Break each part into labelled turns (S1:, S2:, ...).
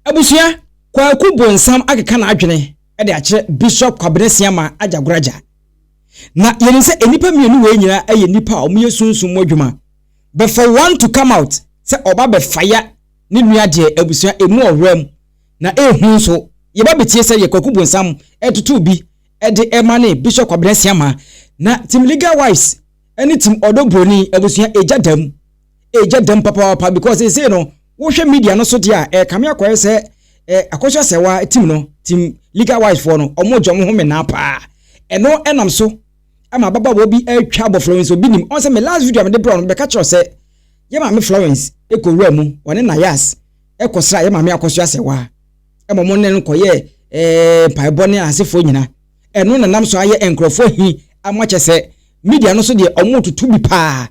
S1: Abusua, Kwaku Bonsam akeka n'adwene de akyerɛ Bishop Kwabena Siamah Agyagoragya. Na yɛnim sɛ nnipa mmienu wei nyinaa yɛ nnipa a wɔyɛ sunsum mu adwuma. But for one to come out sɛ ɔba abɛfaya ne nua deɛ abusua ɛmu ɔwerɛm na ɛhu nso. Yɛba bɛtie sɛdeɛ Kwaku Bonsam ɛtoto bi de ɛma ne Bishop Kwabena Siamah. Na Team Legal Wives ne Team Ɔdɔ Broni, abusua ɛgya da mu. ɛɛgya dɛm papaapa because ɛsei no wohwɛ media no so deɛ a ɛɛkame akɔyɛ sɛ eh, akɔso asɛwa tim no tim legal wise foɔ no ɔmo gya ɔmo ho menaa paa ɛno ɛnam so ama ababaawa bi atwa abɔ Florence obi nim ɔn sɛ me last video a mede brɛ no bɛka kyerɛ sɛ yɛ maame Florence ɛkɔ wura mu ɔne nayas ɛkɔsra yɛ maame akɔso asɛwa ɛma ɔmo ne no kɔyɛ ɛɛ eh, mpaebɔ ne asefoɔ nyina ɛno nanam so ayɛ nkurɔfoɔ hi ama kyɛ sɛ media no so deɛ ɔmo tutu bi paa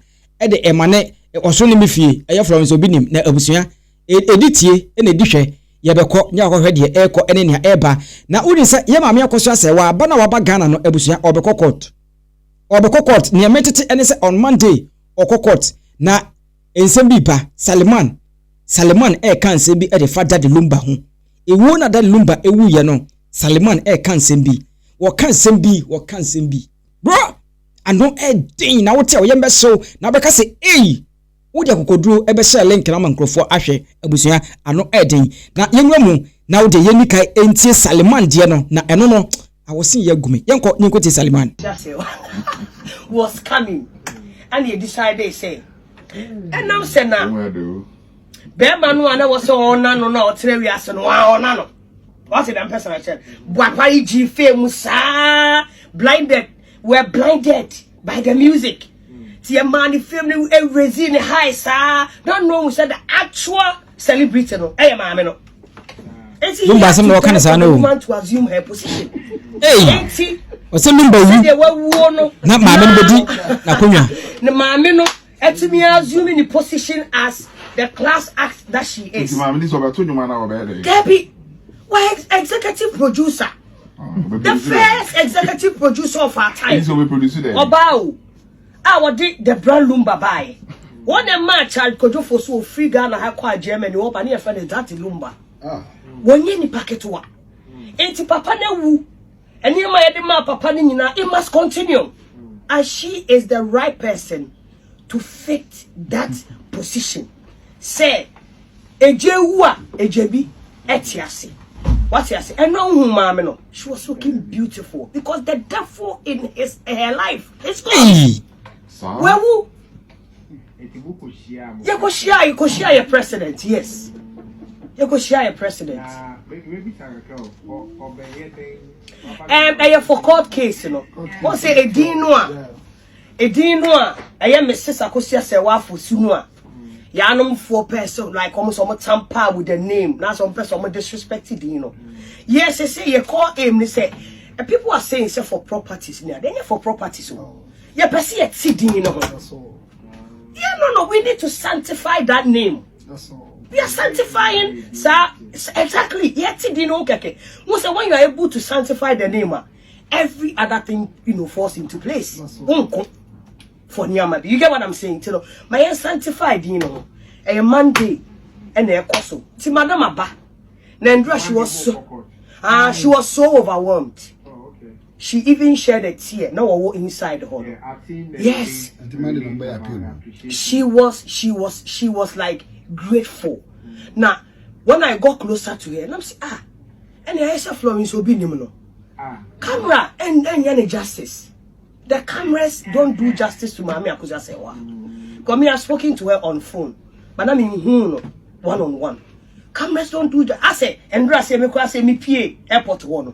S1: de ɛma ne ɔsoro ne me fie ɛyɛ Florence obi nim na abusua ɛdi tie na ɛdi hwɛ yɛbɛkɔ ne akɔhwɛ deɛ ɛrekɔ ne nea ɛreba na wonim sɛ yɛ maame akɔ so asɛ waba na waba Ghana no abusua ɔbɛkɔ court ɔbɛkɔ court nea metete ɛne sɛ on Monday ɔkɔ court na nsɛm bi ba Saliman Saliman ɛreka nsɛm bi de fa Daddy Lumba ho ɛwuo na Daddy Lumba ɛwuiɛ no Saliman ɛreka nsɛm bi wɔka nsɛm bi wɔka nsɛm bi bro ano yɛ den na wote a woyam bɛhyew na wobɛka sɛ ei wode akokoduro bɛhyɛ link no ama nkurɔfoɔ ahwɛ abusua ano yɛ den na yɛnwura mu na wode yɛnni kan ntie Saliman deɛ no na ɛno no awɔsen yɛ agu me yɛnkɔ ne nkɔtie Saliman
S2: was coming ɛna yɛ decide sɛ ɛnam sɛ na bɛrima no a na wɔ sɛ ɔna no na ɔtena wiase no ɔna no wate dɛm pɛsɛ na kyɛ boapa yi gyi fee mu saa blinded We're blinded by the music. Ti e man film ni e raising the high sa. Don't know who said the actual celebrity no. Eh maame no. Enti numba
S1: asem no kan sa no. Man to
S2: assume her
S1: position. Hey. Enti o se numba wu.
S2: Na maame no bedi
S1: na konwa. Na maame no
S2: Atumi assume ne position as the class act that she is. Nti maame ni sɛ ɔbɛto nnwom anaa
S3: ɔbɛyɛ dɛ? Dabi,
S2: wɔyɛ executive producer. Ah, the first executive producer of our time. Nti ɔbɛproduce dɛ? Ɔbaa
S3: o,
S2: a wɔde the brand lumba baeɛ. Wɔn na mmaa Charles Kodwofo so ofiri Ghana ha kɔ a Germany wɔba ne yɛfrɛ no that lumba. Ah. Wɔnyɛ nipa ketewa. Nti papa no awu Nneɛma a yɛde maa papa no nyinaa, it must continue. And she is the right person to fit that position. Sɛ egya ewu a, egya bi ɛte ase. Wate ase? Ɛna ohun maame no. She was looking beautiful because the devil in his her life is gone. Wewu. yɛkɔhyia yɛkɔhyia yɛ president yes yɛkɔhyia yɛ president ɛyɛ for court case no wɔn sɛ ɛdin no a ɛdin no a ɛyɛ mrs akosua sɛ wafo su no a yɛanomfoɔ pɛ sɛ like ɔmo sɛ ɔmo tampa with the name na sɛ ɔmo pɛ sɛ ɔmo disrespect din no yes sɛ yɛkɔ aim ne sɛ people are saying sɛ for properties nea ɛnyɛ for properties o. Yɛpɛ sɛ yɛte din no ho. Yeah, no, no, we need to sanctify that name. That's all. We are sanctifying, sir. Exactly. Yɛte din no ho kɛkɛ. Mo sɛ when you are able to sanctify the name a, every other thing, you know, falls into place. That's all. Wonko. For nneɛma bi. You get what I'm saying? Ti no, ma yɛn sanctify din no ho. Ɛyɛ Monday ɛna ɛkɔ so. Ti madam aba. Nandra, she was so, ah, she was so overwhelmed. she even shed a tear na wɔwɔ inside hɔ no yes she was she was she was like grateful na when i got closer to her nam sɛ ah ɛne ayɛ sɛ florence obi nim no camera ɛnyɛ ne justice the cameras don't do justice to maame akosi asɛwa because me i spoken to her on phone but na me nhu no one on one cameras don't do justice asɛ ɛndura sɛ me kɔ asɛ me pie airport hɔ no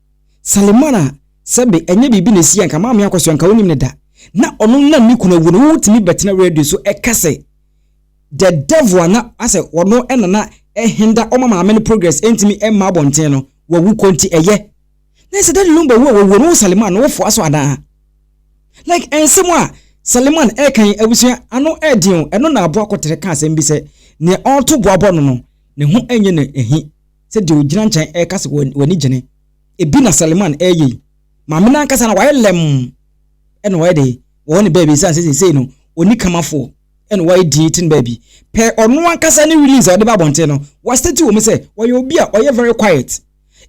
S1: Salimah sɛbe ɛnyɛ biribi na ɛsi a nka Maame Akosua nka ɔnnim no da. Na ɔno nam ne kunu awuo no wotumi bɛtena radio so ɛka sɛ the devil a na asɛ ɔno na na ɛhenda ɔma maame no progress ɛntumi ɛmma abɔnten no wawu kɔ nti ɛyɛ na sɛ daddy Lumba wu a wawuo no wo Salimah no wofoa so anaa? Like ɛnsɛm a Salimah ɛka yi abusua ano ɛɛden o ɛno na Aboa Kɔtere ka asɛm bi sɛ nea ɔɔto bo abɔ no no ne ho ɛnyɛ no ahi sɛ deɛ ɔgyina nkyɛn reka sɛ w'ani gye ne bi na Saliman reyɛ yi. Maame no ankasa no wayɛ lɛmm na wayɛ dɛ wɔ hɔ ne baabi ɛsiane sɛ seesei no ɔnni kamafoɔ na wayɛ dinn te ne baabi. Pɛ ɔno ankasa ne release a ɔde ba abɔnten no, wastate wɔ mu sɛ ɔyɛ obi a ɔyɛ very quiet.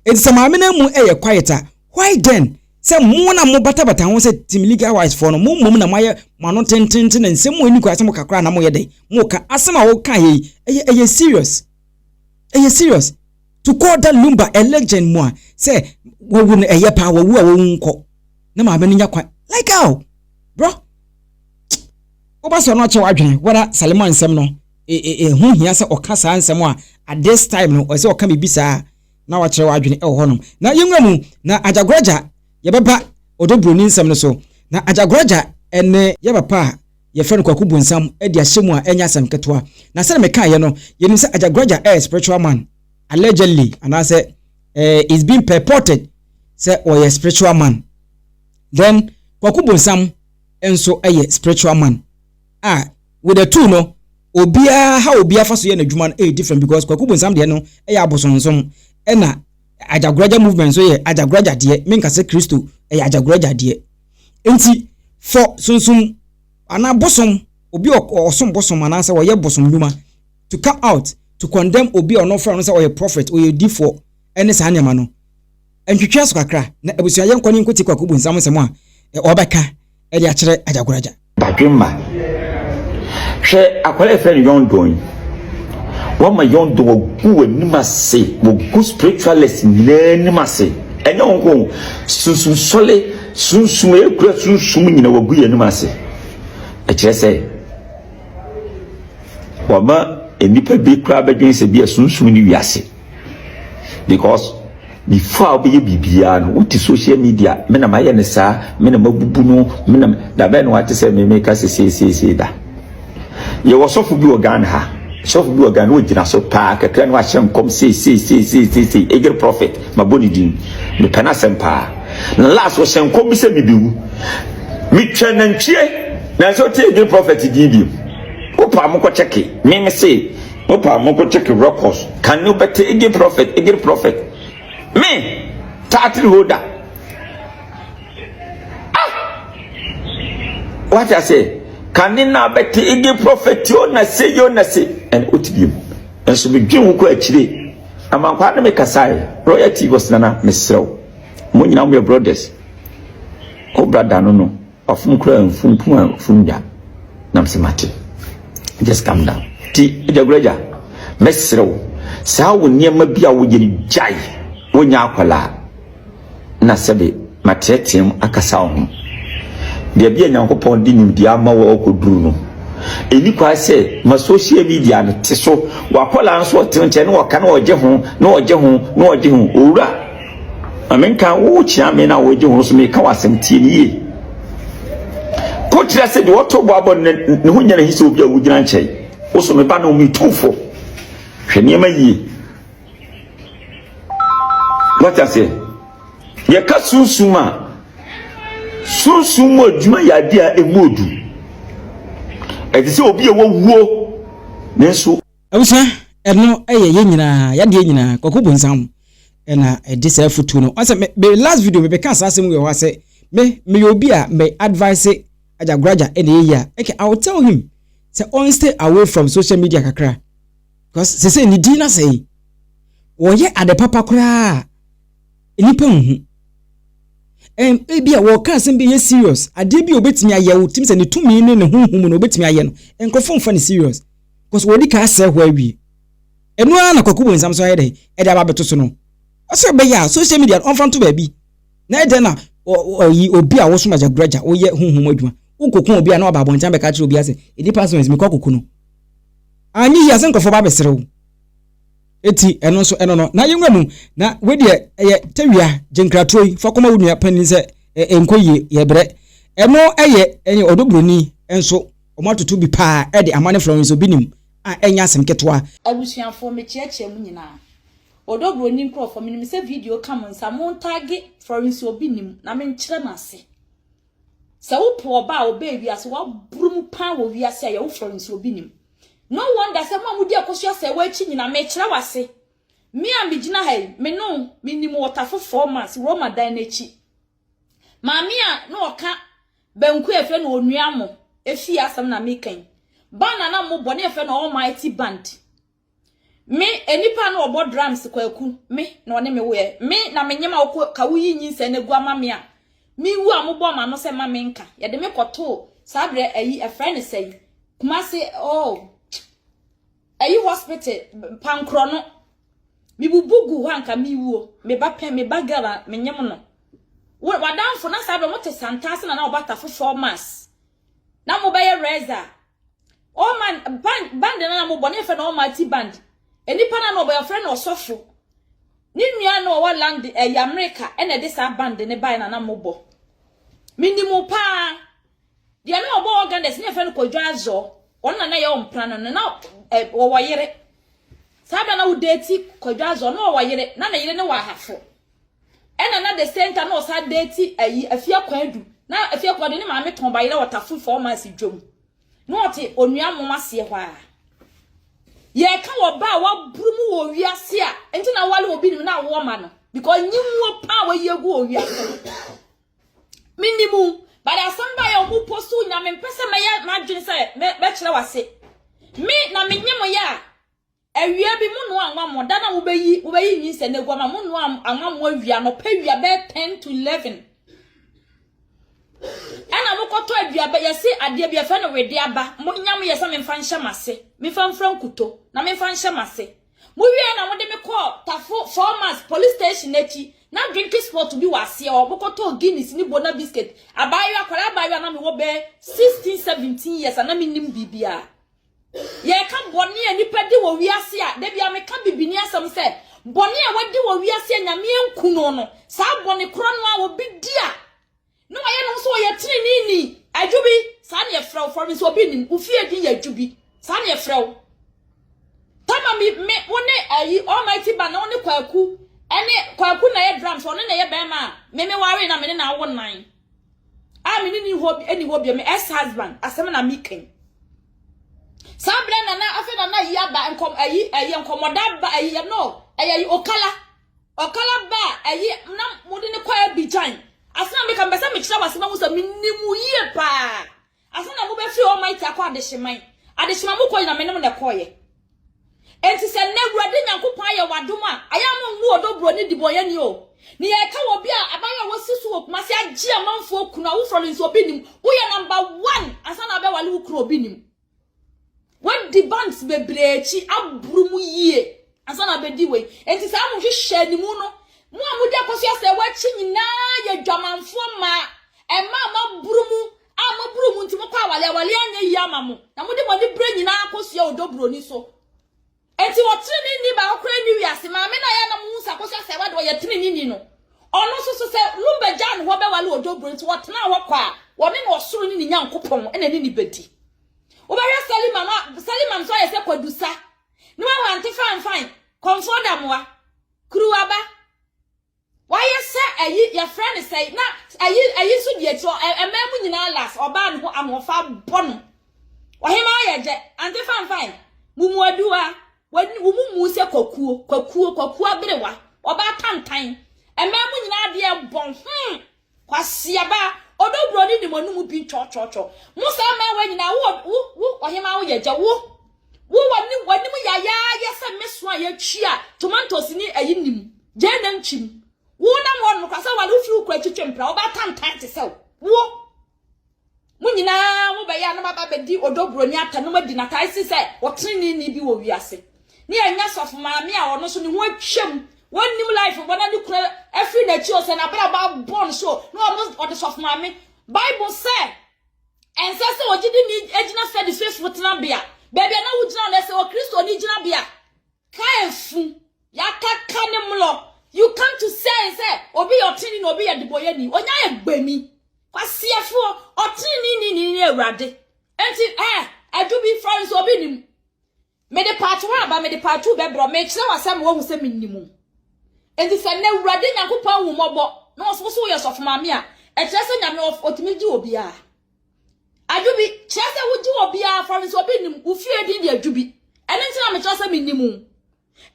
S1: Enti sɛ maame no amu yɛ quiet a, why then sɛ mo na mobatabata ho sɛ Team Legal Rights foɔ no, mo mmom na moayɛ mo ano tententen na nsɛm mu nni kwan sɛ moka koraa na moyɛ dɛ moka. Asɛm a wokaeɛ yi, ɛyɛ ɛyɛ serious. Ɛyɛ serious to call that lumba a legend mu a sɛ wɔwu no ɛyɛ paa wɔwu a wɔwu nkɔ na maame no nya kwan like how bro woba sɛ ɔno akyɛ w'adwene wada salima nsɛm no ɛho hia sɛ ɔka saa nsɛm a at this time no ɔsɛ ɔka biribi saa na wakyerɛ w'adwene ɛwɔ hɔnom na yɛnwura mu na agyagoraja yɛbɛba ɔdɔ buroni nsɛm no so na agyagoraja ɛne yɛ papa a yɛfrɛ no Kwaku Bonsam de ahyɛ mu a ɛnyɛ asɛm ketewa. Na sɛdeɛ mekaeɛ no, yɛnim sɛ Agyaguraja yɛ spiritual man, allegedly, anaasɛ eh, it's been purported sɛ ɔyɛ spiritual man. Then Kwaku Bonsam nso yɛ spiritual man a with the two no obiara ha obiara fa so yɛ n'adwuma no ɛyɛ different because Kwaku Bonsam deɛ no ɛyɛ abosonsom ɛna Agyaguraja movement nso yɛ Agyaguraja deɛ menkasɛ Kristo ɛyɛ Agyaguraja deɛ. Enti fɔ sunsum anaa bosom, obi a ɔsom bosom anaasɛ ɔyɛ bosom nnwuma, to come out to condemn obi a ɔno ɔfrɛ no sɛ ɔyɛ prophet, ɔyɛ odifoɔ, ɛne saa nneɛma no. Ntwetwe aso kakra na abusua yɛnkɔ ne nkɔtie Kwaku Bonsam nsɛm a ɔbɛka de akyerɛ Agya Goraja. Badwemma,
S4: hwɛ akwadaa a yɛfrɛ no Yɔndɔn yi. Woama Yɔndɔn wagu w'anim ase, wagu spiritualist nyinaa anim ase. Ɛnyɛ wo nko o, sunsum sɔle, sunsum a ekura sunsum nyinaa wagu yɛn anim ase. Ɛkyerɛ sɛ wama nnipa bi koraa bɛdwen sɛ bi a sunsum ne wiase. because before a wobɛyɛ biribiara no wote social media me na mayɛ no saa me na mabubu no me na da bɛn na wate sɛ me meka sɛ seeseesei da yɛwɔ sɔfo bi wɔ ghana ha sɔfo bi wɔ ghana wɔgyina so paa kakra no wahyɛ nkɔm seeseeseiseesei ɛgyere prophet mabɔ ne din mepɛ no asɛm paa na last wɔhyɛ nkɔm bi sɛ mebɛwu metwa nantwie nanso wote ɛgyere prophet din bio wopaa mokɔkyɛke meme se Hope a monko check records can you bɛte ege prophet ege prophet me tatri holder ah wate ase kane na bɛte ege prophet yo na se yo na se ɛna ɔte bi mu nso medwen wo kɔ akyire amankwa ne me kasae royal tv ɔsenana meserɛw mo nyina mo yɛ brothers ho brada no no Wafom koraa mfom pum a fom da nam se mate just calm down ti agyaguraja mɛsrɛ wo saa wo nneɛma bi a woyɛ no gyae wonya akwadaa na sɛbe mateɛteɛm akasa wo ho baabi a nyankopɔn de nimdeɛ ama wo akɔduru no ɛni kwae sɛ ma social media no te so wakwadaa nso ɔte nkyɛn na ɔka na ɔgye ho na ɔgye ho na ɔgye ho owura Ma menka wo kyea me na wɔgye ho so meka w'asɛm tie no yie. Ko kyerɛ sɛ deɛ ɔto bɔ abɔ ne ne ho nyɛ n'ahi sɛ obi a wogyina nkyɛn. Wo so me ba no me tumfo. Hwɛ nneɛma yie. Wate aseɛ? Yɛka sunsum a sunsum mu adwuma yɛ adeɛ a ɛmu odu. Ɛte sɛ obi a wawuo nanso Abusua,
S1: ɛno yɛ yɛn nyinaa, yadeɛ nyinaa, Kwaku Bonsam na ɛde saa afutuo no. Ɔsɛ me, me last video me bɛka saa asɛm wɔ hɔ asɛ, me, meyɛ obi a me advice Ajagoraja ɛna ɛyɛ yia. Okay, I will tell him sɛ on stay away from social media kakra. Because sese ne din na sɛe. Wɔyɛ ade papa koraa nipa nhu. Ɛm ebi a wɔka asɛm bi yɛ serious. Adeɛ bi a obetumi ayɛ wo tim sɛ ne tumi ne ne honhom no obetumi ayɛ no. Nkurɔfo mfa ne serious. kɔ so wɔdi kan asɛe hɔ awie. Ɛno ara na Kwaku Bonsam nso ayɛ dɛn? Ɛde aba abɛto so no. Ɔse ɔbɛyɛ a social media no ɔmfa nto baabi. Na ɛdɛn na ɔyi obi a wosom agya gura agya, woyɛ honhom mu adwuma, wokoko obi a na waba abɔnten abɛka akyerɛ obiara sɛ nnipa nso nsi mekɔ akoko no. Anyɛ yie a sɛ nkurɔfoɔ ba abɛsere wo. Eti ɛno nso ɛno no na yɛnwura mu na wei deɛ ɛyɛ tawia gyenkratoɔ yi fa kɔma wo nua panin sɛ ɛnkɔ yie yɛbrɛ. Ɛno ɛyɛ ɛyɛ ɔdɔ buroni nso Wɔatoto bi paa de ama ne Florence obi nim a ɛnyɛ
S5: asɛm
S1: ketewa. Abusuafoɔ mekyeakyea mo nyinaa Odɔ
S5: broni nkorɔfoɔ menim sɛ video ka mo nsa mo ntagge Florence obi nim na me nkyerɛ mo ase sɛ wo po ɔba a ɔbɛɛ wiase waboro mu paa wɔ wiase a yɛwo Florence obi nim no wonder sɛ mo a modi ɛkɔso asɛewa akyi nyina mekyerɛ wo ase me a megyina ha yi me no menim wɔtafo four months Roma dan no akyi Maame a na ɔka banku a ɛfrɛ no onua mo efie asɛm na meka yi. Band a na mobɔ na yɛfrɛ no Almighty Band. Me enipa a na ɔbɔ drums kwaku me na ɔne me woyɛ. Me na menyem a ɔkɔ ka woyi nyinsɛn no gu ama me a mewu a mobɔ ma no sɛ ma me nka. Yɛde me kɔtoo saa berɛ ayi ɛfrɛ no sɛn Kumase oh. Ayi hospital pankorɔ no mebubu gu hɔ anka mewuo me ba pɛ me ba girl a menyem no wadanfo na saa bɛ mo te santaase na na ɔba tafo four months na mo bɛyɛ reza all man band band na na mo bɔ ne fɛ na ɔma ti band enipa na na ɔbɛyɛ ɔfrɛ na ɔsɔfo ne nua na ɔwɔ land ɛyɛ eh, amerika ɛna ɛde saa band ne bae na na mo bɔ menim paa Deɛ na ɔbɔ organders ne yɛfrɛ no Kwadwo Azɔ ɔno na na yɛ ɔmpra no no na ɔwɔ yere saa bɛrɛ na wodeti Kwadwo Azɔ na ɔwɔ yere na ne yere ne wɔ ahafo ɛna na the same time na ɔsa deti ayi afia kwan adu na afia kwan adu ne maame tɔn ba yere ɔtafo fɔ ɔma asi dwom na ɔte onua mom aseɛ hɔ a yɛka wɔ ba a waburu mu wɔ wiase a nti na wale obi nim na awoɔ ma no because nyimuo paa wɔyi agu wɔ wiase Menim wo, but asɛm ba yɛ ɔmo post wo nya mempɛ sɛ mɛyɛ m'adwene sɛ mɛkyerɛ w'ase. Me na menye mo yɛ a, awia bi mo noa anwa mo da na mobɛyi mobɛyi nyinsɛ no agu ama mo noa anwa mo awia anɔpa awia bɛyɛ 10 to 11 ɛna mokɔtɔ aduaba yɛse adeɛ bi yɛfɛ no wede aba monyam yɛ sɛ memfa nhyɛ m'ase memfa mfra nkuto na memfa nhyɛ m'ase Mowiee na wɔde me kɔɔ Tafo Formas Police Station akyi. Ná drinking spot bi wɔ aseɛ hɔ. Mokɔtɔɔ Guinness ne Bona Biscuit. Abaayewa, akwadaa abaayewa a na mewɔ bɛyɛ sixteen, seventeen years a na mennim biribiara. Yɛreka bɔne a nnipa di wɔ wiase a, da biara meka bibini asɛm sɛ, bɔne a wadi wɔ wiase a Nyame anku no no, saa bɔne korɔ no ara obi di a, Na wayɛ ne ho sɛ ɔyɛ teneneeni. Adwubi, saa na yɛfrɛ wo. Fɔremi sɛ obi nnim. Wo fie din yɛ Adwubi. Saa na yɛfrɛ wo. Tama me, me, wo ne ayi, Almighty Band, na wo ne Kwaku, ɛne, Kwaku na ɛyɛ drums, ɔno na ɛyɛ bɛrima a, me me waree na me ne na awo nnan. A me ne ne hɔ, ɛni hɔ bio, me ex-husband, asɛm na me kan. Saa berɛ na na, afei na na yi aba, nkɔm, ayi, ɛyɛ nkɔmɔda aba, ayi, yɛ no, ɛyɛ yi, Okala, Ɔkala ba a ɛyi na mode no kɔ Abidjan. Ase na meka mepɛ sɛ mekyerɛ wase mahu sɛ menim wo yie paa. Ase na mobɛfiri Almighty akɔ adehyeman. Adehyema mu kɔ nyina menem na ɛkɔɔyɛ. Enti sɛ nnɛ Awurade Nyankopɔn ayɛ wadom a, ayɛ a mongu ɔdɔ buro ne dibɔnyɛni o. Ne yɛ ɛka wɔ obi a abayewa a wasi so wɔ Kumasi agye amanfoɔ kunu a woforɔ no nso obi nim. Woyɛ number one ansa na abɛwale wo kunu obi nim. Wadi banks bebree akyi aboro mu yie ansa na abɛdi wei. Enti saa mo hwehwɛ animu no, mo a mode akɔso asɛ wɔakyi nyinaa yɛ dwamanfoɔ mmaa. Ɛma a moaboro mu a moaboro mu nti mokɔ awale, awale anyɛ yie ama mo. Na mode mo ani berɛ nyinaa akɔsua ɔdɔ buroni so. Enti ɔtreneeni baako koraa nni wiase. Maame no a yɛn a na mo hu Sarkozy asɛewa de ɔyɛ treneeni no. Ɔno nso so sɛ Lumba gyaa ne hɔ bɛware Odjo Bro nti ɔtenaa hɔ kwa a, ɔne ne ɔsoro ne ne Nyankopɔn na ɛne ne bɛdi. Wobɛhwɛ Salima no a, Salima nso ayɛ sɛ Kwadu Sa. Ne wahɔ ante fanfan, kɔmfoɔ damoa, kuruwa ba. Wayɛ sɛ ayi, yɛfrɛ no sɛn, na ayi, ayi nso di akyire, ɔ- ɛ- mmaa mu nyinaa last, ɔbaa ne ho ahoɔfa abɔ no. Ɔhemaa yɛ gyɛ, ante fanfan, mumuaduwa, wɔn- wɔn mu mu sɛ kwakuo, kwakuo, kwakuo aberewa, ɔbaa tantan, mmaa mu nyinaa adeɛ bɔn, hmm, Kwasiaba, ɔdɔ buroni ne mo no mu bi twɔtwɔtwɔ. Mo saa mmaawa nyinaa, wo, wo, wo ɔhemaa wo yɛ gya, wo, wo wanim, wanim yayaayɛ sɛ me so a yɛtwi a tomatoes ne ayi nim, gyaa na ntwi mu. Wo nam hɔ no, kwasa wale, wofiri wo kura twitwe mpra, wobɛatantan te sɛ wo. Mo nyinaa mobɛyɛ a na moaba abɛdi Odɔ Buroni Atta no mu adi no atae si sɛ ɔteneneeni bi wɔ wiase. Ne ɛnyɛ Sɔfo Maame a ɔno nso ne ho atwam, wɔnnim life bɔ na ne kunu afiri n'akyi o, sɛ n'abrabɔ abɔ no so o, na ɔno ɔde Sɔfo Maame. Bible sɛ ɛnsɛ sɛ ogyidini gyina fɛdifefo tenabea, baabi a na wogyina no, ɛsɛ Okristoni gyinabea. Ka efu, yɛakaka ne mmorɔ. You come to say sɛ obi yɛ ɔtene na obi yɛ debɔyɛni. Onya yɛ gbani. Kwaseɛfoɔ, ɔtene ni ni ne awurade. Enti, eh, adu bi fɔre nso obi nim. Mede part one aba, mede part two bɛbrɛ. Mekyerɛ wo asɛm woahu sɛ menni mu. Enti sɛ na awurade Nyankopɔn ahu mmɔbɔ na ɔso woso woyɛ sɔfo maame a, ɛkyerɛ sɛ Nyame ɔtumi gye obiara. Adwobi kyerɛ sɛ wogye obiara fam nso obi nim wo fie din de adwobi. Ɛno nti na mekyerɛ sɛ menim wo.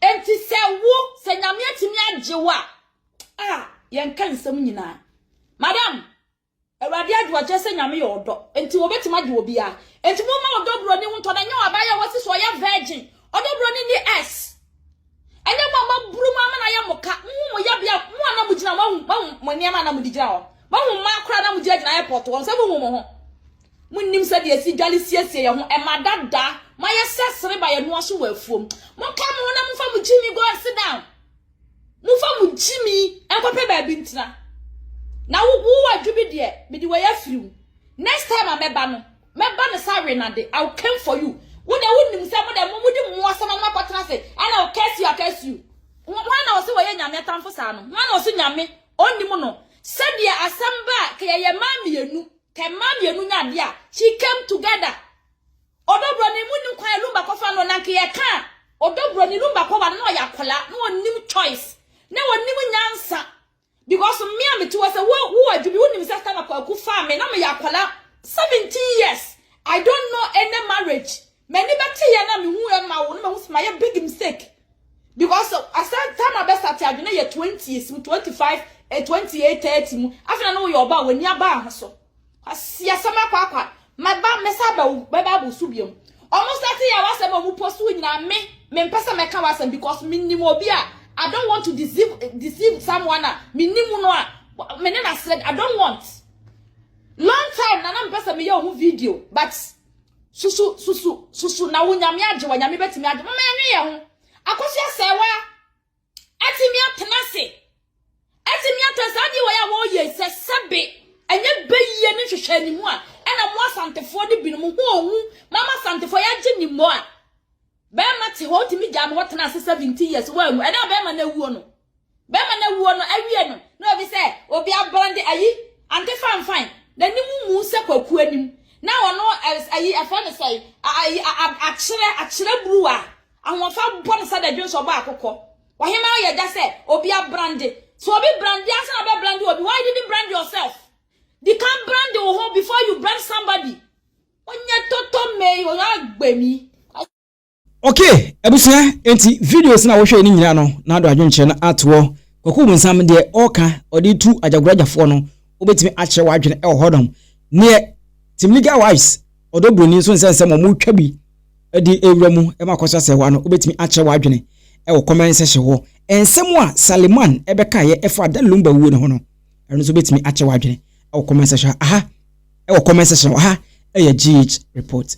S5: Enti sɛ wo sɛ nyame atumi agye wo a a yɛnka nsɛm nyinaa. Madam, Awurade adwo akyerɛ sɛ nyame yɛ ɔdɔ. Enti wɔbɛtumi agye obiara. Enti momma ɔdɔ buroni ho ntɔ na nyɛ wɔ abaayɛ a wasi so ɔyɛ virgin. Ɔdɔ buroni ni S. Ɛnyɛ mo a moaboro mu ama no ayɛ mo ka. Mohu mo yɛbea, mo a na mogyina, moahu, moahu mo nneɛma a na mode gyina hɔ. Moahu mmaa koraa na mogyinagyina airport hɔ no, sɛ mohu mo ho. Monnim sɛdeɛ yɛsi dwale siesie yɛn ho, ɛma dada, moayɛ sɛ sereba yɛn noa so wɔ afuom. Monka mo ho na momfa mo gyimi go and sit down. Momfa mo gyimi nkɔpɛ baabi ntena. Na wo, wo wadwo bi deɛ, mede wei afiri wo. Next time a mɛba no, mɛba ne sa we na de i will come for you wo de wo nim sɛ mo de mo mo di mo asɛm na kɔtena se ɛna o curse you curse you wɔn na ɔsɛ wɔyɛ nyame atamfo saa no wɔn na ɔsɛ nyame ɔnim no sɛdeɛ asɛm ba a kɛyɛ yɛ maa mmienu kɛ maa mmienu nya adeɛ a she came together ɔdɔbrɔ ne mu nim kwan lumba kɔfa no na nkɛyɛ ka a ɔdɔbrɔ ne lumba kɔba no na ɔyɛ akɔla na ɔnim choice na ɔnim nyansa because me a mete hɔ sɛ wo wo adwumi wonim sɛ sɛ na kwaku faa me na meyɛ akwadaa seventeen years i don't know any marriage m'ani bɛte yɛ na mehu ɛma wo na mehu sɛ mayɛ big mistake because asɛ time abɛsa te adwene yɛ twenties mu twenty five eh, twenty eight thirty mu afei na woyɛ ɔba a w'ani aba ho so Asi asɛm akɔ akɔ a, mɛba mɛsa aba wo bɛba abo so biom. Ɔmo start yɛ w'asɛm a ɔmo post wo nyinaa me mempɛ sɛ mɛka w'asɛm because menim obi a I don't want to deceive deceive someone a menim no a me ne n'asrɛ I don't want. Long time na na mpɛ sɛ meyɛ ɔho video but susu susu susu na wo nyame agye wa nyame bɛtumi agye mama yɛnwe yɛ ho akɔso asɛe wa. atumi atena ase atumi atena saa adeɛ wɔyɛ a wɔreyɛ sɛ sɛbe ɛnyɛ bɛyie ne nhwehwɛ anim a ɛna mo asantefoɔ ne binom ho ohu ma ama asantefoɔ yɛagye ne mmɔ a bɛrima te hɔ ɔtumi gyaa no hɔ tena ase 17 years wɔanwu ɛna bɛrima no awuo no bɛrima no awuo no awie no na obi sɛ obi abrande ayi ante fanfan n'anim mu sɛ kwakuo anim na ɔno ayi ɛfɛ ne sɛ ayi akyerɛ akyerɛ buruwa Ahoɔfɛ bɔ no sɛ dadwen sɛ ɔbɔ akokɔ. Ɔhemaa yɛ gya sɛ obi abrande. Sɛ obi brande ansa na bɛbrande obi, why didn't brand yourself? Di kan brande wo ho before you brand somebody. Onyɛ tɔtɔ mei, onyɛ agbemi. Ok
S1: abusua enti videos na wohwɛɛ no nyinaa no na ado adwenkyerɛ no atoɔ Kwaku Bonsam deɛ ɔɔka ɔde tu Agyagorɔ Agyafoɔ no wobɛtumi akyerɛ w'adwene wɔ hɔ nom neɛ Team Legal Wives Ɔdɔ buroni nso nsɛ nsɛm a wɔretwa bi de rewura mu ma akɔso asɛewa no, wobetumi akyerɛ w'adwene wɔ comment section hɔ. Nsɛm a Saleman bɛkaeɛ ɛfa Dan Lumba wuo no ho no, ɛno nso wobetumi akyerɛ w'adwene wɔ comment section ha wɔ comment section wɔ ha. Ɛyɛ GH Report.